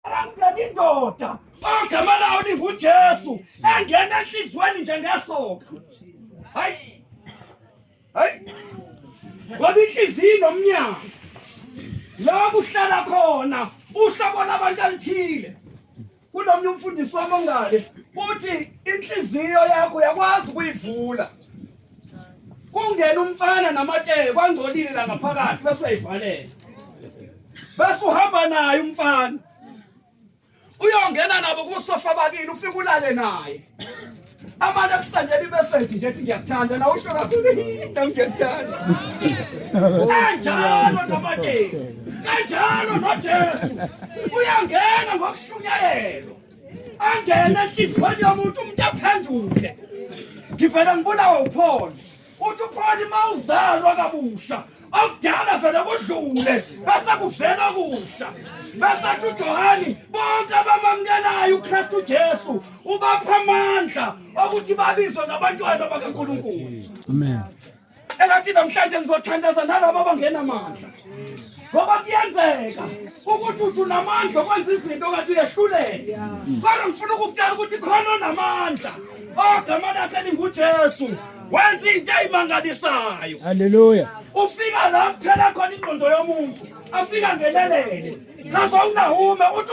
Angena indoda ogama lawo linguJesu engena enhliziyweni nje ngesoka. Hayi. Hayi. Ngoba inhliziyo nomnyango. La kuhlala khona uhlobo labantu alithile. Kunomnye umfundisi wami ongale uthi inhliziyo yakho yakwazi ukuyivula. kungena umfana namatsheke kwangcolile la ngaphakathi bese uyayivalela bese uhamba naye umfana uyongena nabo kusofa bakini ufike ulale naye amane kusandela imeseji nje ethi ngiyakuthanda na usho kakhulu nam ngiyakuthanda kanjalo namateki kanjalo nojesu uyangena ngokushunyayelwa angena enhliziyweni yomuntu umuntu aphenduke ngivele ngibulawa upholi uthi upholi uma uzalwa kabusha okudala vele kudlule bese kuvela okusha bese athi ujohani bonke abamamukelayo ukristu jesu ubapha amandla okuthi babizwe ngabantwana bakankulunkulu amen engathi namhlanje ngizothandaza nalabo abangenamandla ngoba kuyenzeka ukuthi uthi unamandla okwenza izinto kanti uyehluleke kodwa ngifuna ukukutshela ukuthi khona onamandla ogama lakhe lingujesu wenza into eyimangalisayo haleluya ufika la kuphela khona ingqondo yomuntu afika ngelelele kaze unahume uthi